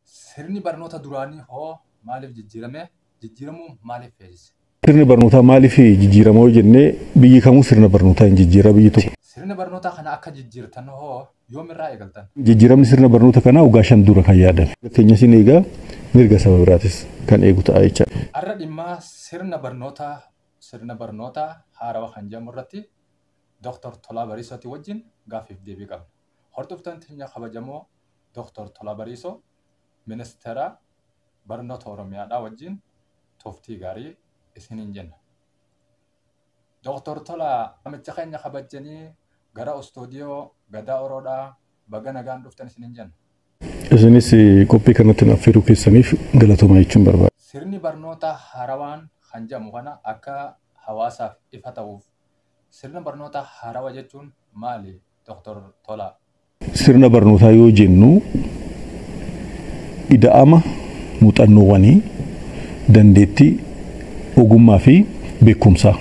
Sirni barnoota duraanii hoo maaliif jijjiirame? Jijjiiramuu maaliif feesise? Sirni barnootaa maaliif jijjiirama yoo jenne biyyi kamuu sirna barnootaa hin jijjiira biyyi tokko. Sirna barnootaa kana akka jijjiirtan hoo yoomirraa eegaltan? Jijjiiramni sirna barnoota kanaa waggaa shan dura kan yaadame. Mirga keenyas in eega mirga saba biraatis kan eegu ta'a jechaadha. Har'a dhimma sirna barnoota sirna barnoota haarawa kan jedhamu irratti Doktar Tolaa Bariisootii wajjin gaaffiif deebii qabna. Hordoftoon teenya kabajamoo Doktar Tolaa Bariisoo Ministeera Barnoota Oromiyaadhaa wajjin turtii gaarii isiniin jenna. Doktar Tolaa waamicha keenya kabajjanii gara Ustuudiyoo Gadaa Oroodhaa baga nagaan dhuftan isiniin jenna. Isinis qophii kanatti nu affeeruu keessaniif galatoomaa jechuun barbaada. Sirni barnootaa haarawaan kan jedhamu kana akka hawaasaaf ifa ta'uuf sirna barnootaa haarawa jechuun maali? Dr. Tolaa. Sirna barnootaa yoo jennu ida'ama muuxannoowwanii, dandeettii, ogummaa fi beekumsaa.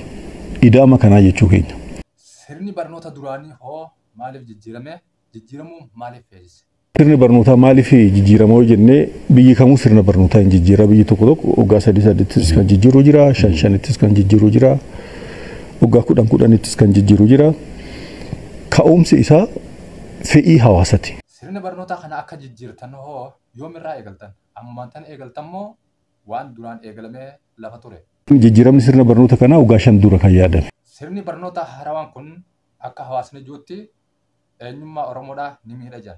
Ida'ama kanaa jechuu keenya. Sirni barnoota duraanii hoo maaliif jijjiirame? Jijjiiramuu maaliif feesise? Sirni barnootaa maaliif jijjiirama yoo jenne biyyi kamuu sirna barnootaa hin jijjiira. Biyyi tokko tokko waggaa sadii sadiittis kan jijjiiru jira, shan shanittis kan jijjiiru jira, waggaa kudhan kudhanittis kan jijjiiru jira. Ka'umsi isaa fedhii hawaasati. Sirna barnootaa kana akka jijjiirtan hoo yoomirraa eegaltan? Ammumaan tana eegaltan moo waan duraan eegalamee lafa ture? Jijjiiramni sirna barnoota kanaa waggaa shan dura kan yaadame. Sirni barnootaa haarawaan kun akka hawaasni ji'utti eenyummaa Oromoodhaa ni miidha jedhan.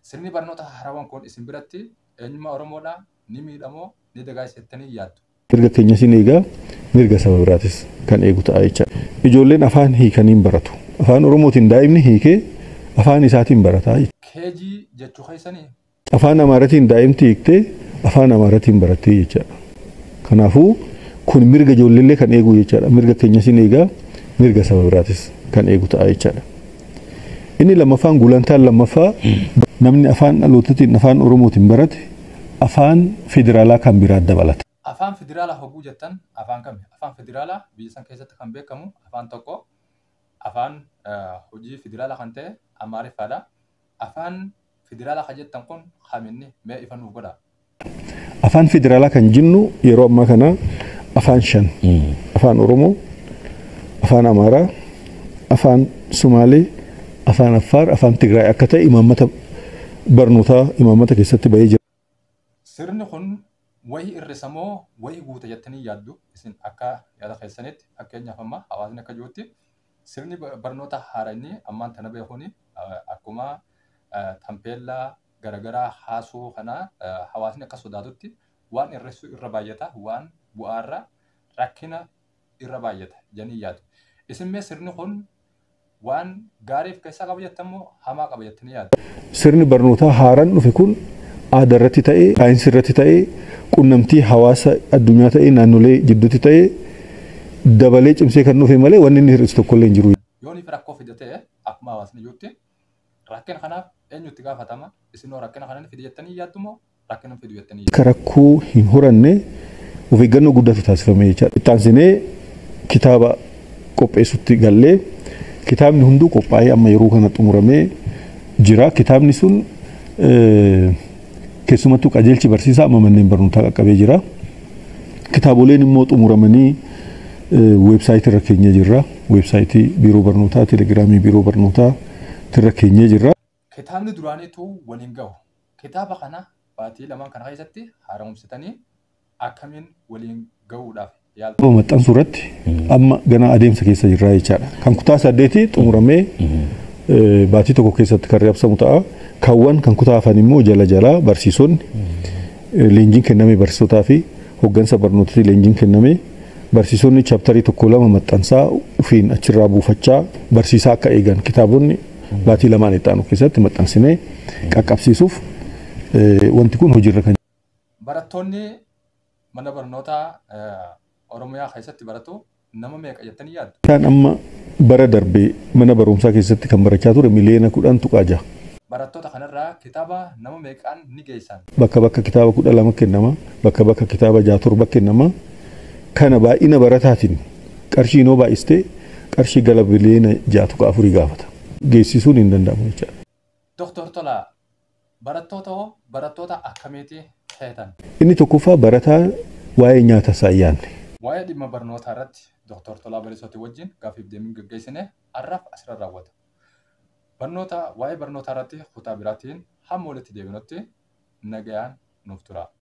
Sirni barnoota haarawan kun isin biratti eenyummaa Oromoodhaa ni miidha moo ni dagaagsa jettanii yaaddu? Mirga keenyas in eega, mirga saba biraatis kan eegu ta'a jecha. Ijoolleen afaan hiikanii hin baratu. Afaan Oromootiin daa'imni hiikee afaan isaatiin barata. KG jechuu keessanii? Afaan Amaaratiin daa'imti hiiktee Afaan Amaaratiin barattee jechaadha. Kanaafuu kun mirga ijoolleellee kan eeguu jechaadha. Mirga keenyas hin eegaa, mirga saba biraatis kan eegu ta'a jechaadha. Inni lammaffaan gulantaan lammaffaa namni afaan dhalootatiin afaan Oromootiin barate afaan federaalaa kan biraa dabalata. Afaan federaalaa hogguu jettan afaan kami? Afaan federaalaa biyya san keessatti kan beekamu afaan tokko afaan hojii federaalaa kan ta'e Amaariffaadha. Afaan Federala ka jettan kun kam inni? Mee ifa nuuf godhaa. Afaan federaalaa kan jennu yeroo ammaa kana afaan shan. Afaan Oromoo, Afaan Amaaraa, Afaan Sumaalee, Afaan Affaar, Afaan Tigraay akka ta'e imaammata barnootaa imaammata keessatti bahee jira. Sirni kun wahi irrisa moo wahi guuta jettanii yaaddu isin akka yaada keessanitti fakkeenyaaf amma hawaasni akka jirutti sirni barnoota haarayni ammaan tana bahe kun akkuma tampeellaa garagaraa haasuu kana hawaasni akka sodaatutti waan irrissuu irra baay'ata waan bu'aarra rakkina irra baay'ata janii yaadu. Isin mee sirni kun Waan gaarii of keessaa qaba jettan moo hamaa qaba jettanii yaaddu? Sirni barnootaa haaraan dhufe kun aadaa irratti ta'ee, saayinsii irratti ta'ee, qunnamtii hawaasa addunyaa ta'ee, naannolee jidduutti ta'ee dabalee cimsee kan dhufe malee wanni inni hir'isu tokkollee hin jiru. Yoo inni rakkoo fida ta'e akkuma hawaasni iyyutti Rakkina kanaaf eenyu itti gaafatama? Isinoo rakkina kana ni fida jettanii yaaddu moo rakkina hin fidu jettanii yaaddu? Akka rakkoo hin horanne of eeggannoo guddaatu taasifame jechaadha. Itti aansinee kitaaba qopheessutti galle. Kitaabni hunduu qophaa'ee amma yeroo kana xumuramee jira. Kitaabni sun keessumattuu qajeelchi barsiisaa amma manneen barnootaa qaqqabee jira. Kitaaboleen immoo xumuramanii weebsaayitii irra keenyee jirra. Weebsaayitii Biiroo Barnootaa, Telegiraamii Biiroo Barnootaa irra keenyee jirra. Kitaabni duraaniitu wal hin gahu. Kitaaba kana baatii lamaan kana keessatti haaromsitanii akkamiin waliin gahuudhaaf yaaltu? Kitaaba maxxansuu irratti amma ganaa adeemsa keessa jirra jechaadha. Kan kutaa saddeetii xumuramee baatii tokko keessatti kan reebsamu ta'a. Kaawwan kan kutaa hafan immoo jala jalaa barsiisonni Leenjiin kenname barsiisotaa fi hoggansa barnootati leenjiin kenname barsiisonni chaptarii tokko lama maxxansaa ufiin achirraa buufachaa barsiisaa akka eegan kitaabonni baatii lamaan itti aanu keessatti maxxansinee qaqqabsiisuuf wanti kun hojiirra kan Barattoonni mana barnootaa Oromiyaa keessatti baratu nama meeqa jettanii yaaddu? Barataan amma bara darbe mana barumsaa keessatti kan barachaa ture miliyoona 10.6. Barattoota kanarraa kitaaba nama meeqaan ni geessan? Bakka bakka kitaaba 12 kennama, bakka bakka kitaaba 6, 7 kennama. Kana baay'ina barataatiin qarshiin yoo baay'iste qarshii gala biliyoona 6.4 gaafata. Geessisuun hin danda'amu jechaadha. Doktor Tolaa, Barattoota hoo barattoota akkamiiti feetan? Inni tokkoffaa barataa waa'ee nyaata isaa hin yaadne. Waa'ee dhimma barnootaa irratti Doktar Tolaa Bariisootii wajjin gaaffiif deebiin gaggeessine har'aaf asirra raawwata. Barnoota waa'ee barnootaa irratti kutaa biraatiin hamma walitti deebinutti nagayaan nuuf turaa.